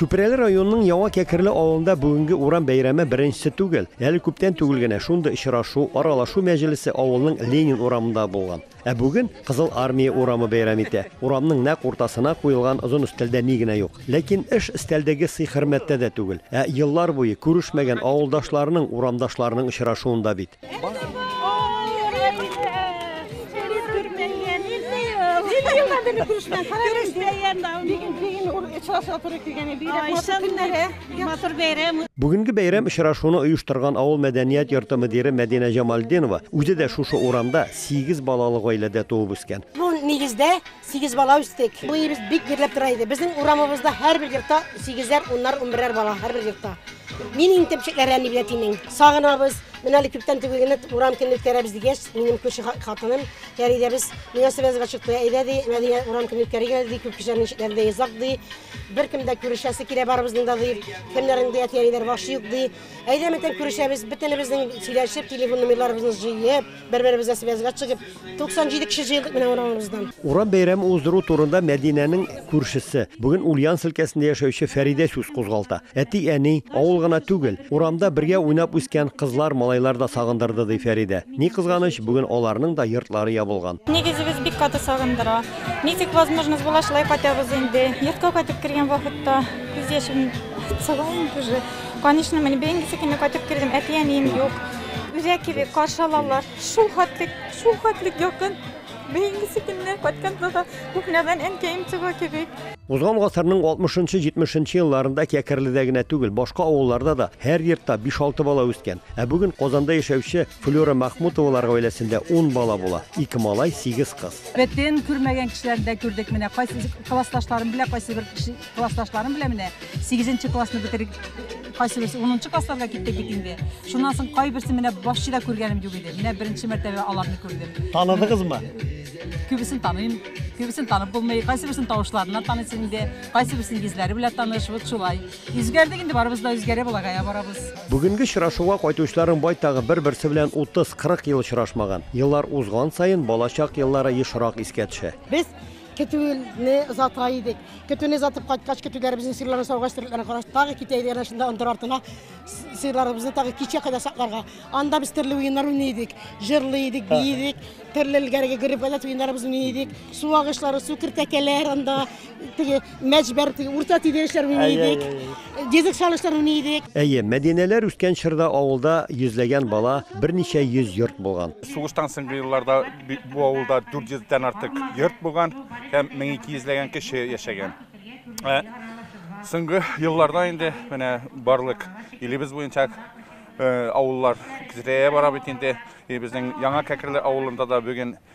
Чүпрәле районының Яңа Кәкерле авылында бүгенге урам бәйрәме беренчесе түгел. Әле күптән түгел генә шундый очрашу, аралашу мәҗлесе авылның Ленин урамында булган. Ә бүген Кызыл Армия урамы бәйрәм итә. Урамның нәкъ уртасына куелган озын өстәлдә ни генә юк. Ләкин эш өстәлдәге сый-хөрмәттә дә түгел, ә еллар буе күрешмәгән авылдашларының, урамдашларының очрашуында бит. Күрешмәгән, күрешмәгән дә. Бигин, бигин, очрашырга туры килгән иде. Бигрәк матур көннәре. Матур бәйрәм. Бүгенге бәйрәм очрашуны оештырган авыл мәдәният йорты мөдире Мәдинә Җамалдинова үзе дә шушы урамда, сигез балалы гаиләдә туып үскән. Бу нигездә сигез бала үстек. Бу өебез бик бирләп тора иде. Безнең урамыбызда һәрбер йортта сигезләр, уннар, унберәр бала һәрбер йортта. Мин иң төпчекләре әни белән тимим. Сагынабыз. Менә әле күптән түгел генә урам көнен үткәрәбез дигәч, минем күрше хатыным Фәридә без мөнәсәбәбез ачыкты. Әйдә ди, Мәдинә урам көнен үткәрик әле ди, күп кешеләр ничекләр ди, озак ди. Беркем дә күрешәсе килә барыбызның да ди. Кемнәрнең дә әти-әниләре башы юк ди. Әйдә ментен күрешәбез, бөтенебезнең сөйләшеп, телефон номерларыбызны җыеп, бер-беребезгә связьга чыгып, 97 кеше җыелдык менә урамыбыздан. Урам бәйрәме уздыру турында Мәдинәнең күршесе, бүген Ульяновск өлкәсендә яшәүче Фәридә сүз кузгалта. Әти-әни, авыл гына түгел, урамда бергә уйнап үскән кызлар, малайлар да сагындырды, ди Фәридә. Ни кызганыч, бүген аларның да йортлары ябылган. Нигезебез бик каты сагындыра. Ничек возможность була, шулай кайтабыз инде. Йортка кайтып кергән вакытта күз яшем сыла инде уже. Конечно, мин бәйгесе кеме кайтып кердем, әти-әнием юк. Үзәк кебек каршы алалар. Шул хәтлек, шул хәтлек якын. Бәйгесе кеме кайткан булса, кухнядан әнкәем чыга кебек. Узган гасырның 60-70 елларында Кәкерледә генә түгел, башка авылларда да һәр йортта 5-6 бала үскән. Ә бүген Казанда яшәүче Флюра Махмутовалар гаиләсендә 10 бала була. Ике малай, 8 кыз. Бетен күрмәгән кешеләрне дә күрдек менә. Кайсы классташларым белән, кайсы бер классташларым белән менә 8 классны бетереп кайсы берсе 10 классларга киттек бит инде. Шуннан соң кайберсе менә башчы да күргәнем юк иде. Менә беренче мәртәбә аларны күрдем. Таныдыгызмы? Күбесен таныйм. Күбесен танып булмый. Кайсы берсен тавышларыннан таныйсың инде, кайсы берсен йөзләре белән таныш, вот шулай. Үзгәрдек инде барыбыз да үзгәрә балагая барабыз. Бүгенге очрашуга кайтучыларның байтагы бер-берсе белән 30-40 ел очрашмаган. Еллар узган саен балачак еллары ешрак искә төшә. Без көтүне озата идек. Көтүне озатып кайткач, көтүләребезнең сыерларын саугач, терлекләрен караш тагы китә иде, әнә шунда ындыр артына сыерларыбызны тагы кичә кадәр сакларга. Анда без төрле уеннар уйный идек, җырлый идек, бии идек, төрле элгәреге гөреп-гадәт уеннарыбыз уйный идек. Су агышлары, су кертәкәләр анда. Теге мәҗбәр, теге урта тиде эшләр уйный идек. Дизек салышлар уйный идек. Әйе, Мәдинәләр үскән чорда авылда йөзләгән бала, берничә йөз йорт булган. Сугыштан соңгы елларда бу авылда 400 дән артык йорт булган һәм 1200 ләгән кеше яшәгән. Ә, соңгы елларда инде менә барлык илебез буенча Э, авыллар кизрәя бара бит инде. Э, безнең Яңа Кәкерле авылында да бүген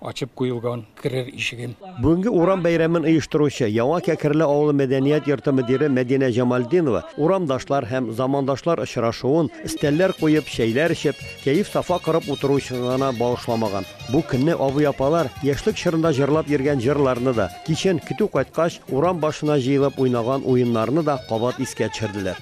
Ачып куелган керер ишегем. Бүгенге урам бәйрәмен оештыручы, Яңа Кәкерле авылы мәдәният йорты мөдире Мәдинә Җамалдинова урамдашлар һәм замандашлар очрашуын, өстәлләр куеп, чәйләр эчеп, кәеф-сафа корып утыру өчен гына багышламаган. Бу көнне абый-апалар яшьлек чорында җырлап йөргән җырларны да, Кичен, көтү кайткач, урам башына җыелып уйнаган уеннарны да кабат искә төшерделәр.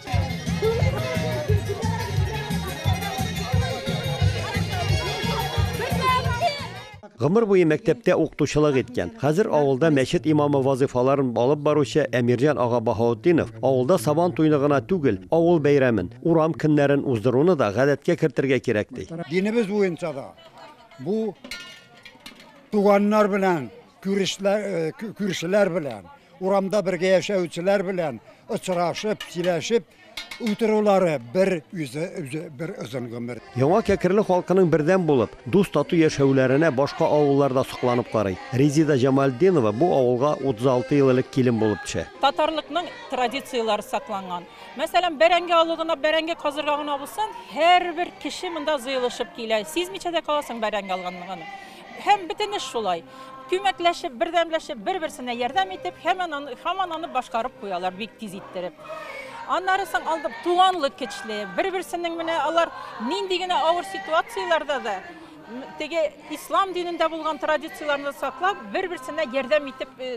Гомер буе мәктәптә укытучылык иткән, хәзер авылда мәчет имамы вазыйфаларын алып баручы Әмирҗан ага Баһаутдинов авылда Сабан туйны гына түгел, авыл бәйрәмен, урам көннәрен уздыруны да гадәткә кертергә кирәк ди. Динебез буенча да бу туганнар белән Күршеләр белән, урамда бергә яшәүчеләр белән очрашып, сөйләшеп утырулары бер үзе бер озын гомер. Яңа Кәкерле халкының бердәм булып, дус-тату яшәүләренә башка авыллар да сокланып карый. Резида Җамалетдинова бу авылга 36 ел элек килен булып төшә. Татарлыкның традицияләре сакланган. Мәсәлән, бәрәңге алу гына, бәрәңге казырга гына булсын, һәрбер кеше монда җыелышып килә. Сизмичә дә каласың бәрәңге алганлыгын. Һәм бөтен эш шулай. Күмәкләшеп, бердәмләшеп, бер-берсенә ярдәм итеп, һәман аны, һаман аны башкарып куялар бик тиз иттереп. Аннары соң алды туганлык көчле. Бер-берсенең менә алар нинди генә авыр ситуацияләрдә дә теге ислам динендә булган традицияләрне саклап, бер-берсенә ярдәм итеп э,